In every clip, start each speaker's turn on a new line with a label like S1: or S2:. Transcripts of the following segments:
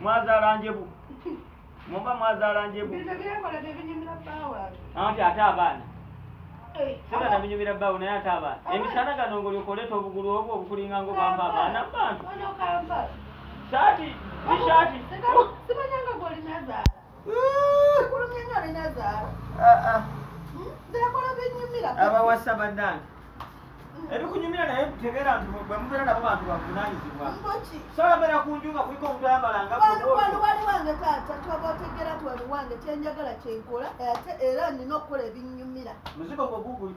S1: Mwazaala njebu. Mumba mwazaala njebu. Bino byekola bye binyumira baawo ate. Anti ate abaana. Eh, Sera na binyumira baawo naye ate abaana. Emisana gano ngoli okoleta obugulu obwo obukulinga ngo bamba abaana bantu. Ono kamba. Saati, tishati. Sibanyanga
S2: goli nazaala. abawasa banange
S1: ebikunyumira naye tegera nti bwemubeera nabo bantu bavunanyizibwa soyogera ku nju nga kuliko omuntu ayamalangawaliwange
S2: taata twaba otegera twaliwange kyenjagala kyenkola ate era nina okukola ebinyumira muzigo gwe guguli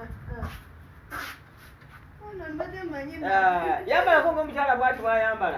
S1: Ah, yambalako ngaomukyala bwati bwayambala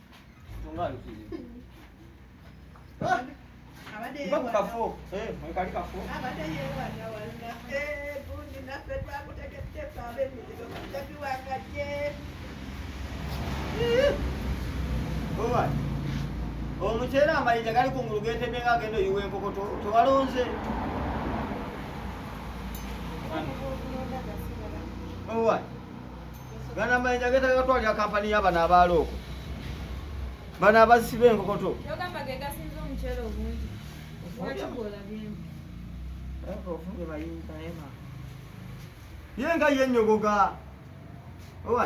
S1: omuceera amayinja gali kungulu getebye nga agenda oyiwa enkoko tewalonze All right. Gana mayinja getaga gatwalira kampani y'abana abaalo okwo bano abasiba enkokoto ye nga ye nyogoga owa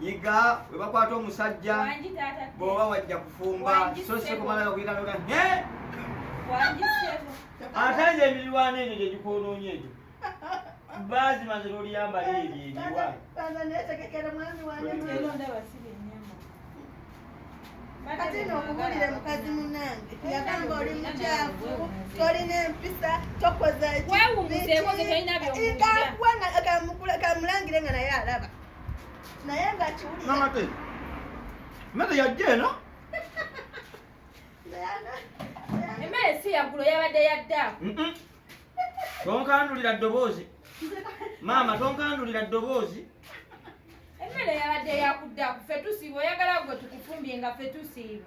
S1: yiga webakwata omusajja bwoba wajja kufumba so sikumalaga kuyitanoga ne ate nze emirwana egyo gyegikwonoonye egyo bazi maze loliyamba leeri ebiwa
S2: kati no okubulire mukazi munange yagamba oli mukyafu tolina empisa tokoza kamulangire nga naye alaba naye nga kiwulira mama te
S1: mama yajja eno
S3: emmere si yaggulo yabadde yadda tonkandulira
S1: ddoboozi maama tonkandulira ddoboozi
S3: emmere yabadde yakudda ku fe tusiiba oyagala gwe tukufumbye nga fe tusiiba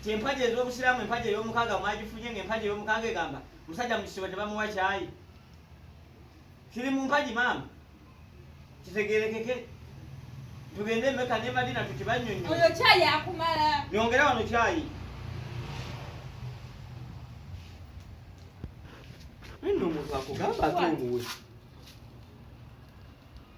S1: nti empagi ez'obusiraamu empagi ey'omukaaga mwagifunye nga empagi ey'omukaaga egamba musajja mu kisibo tebamuwa kyayi kiri mu mpagi maama kitegerekeke tugende emeka ne madina tukibanyonyo oyo kyayi akumala
S3: nyongera wano kyayi
S1: nno omuntu akugamba ati omuwe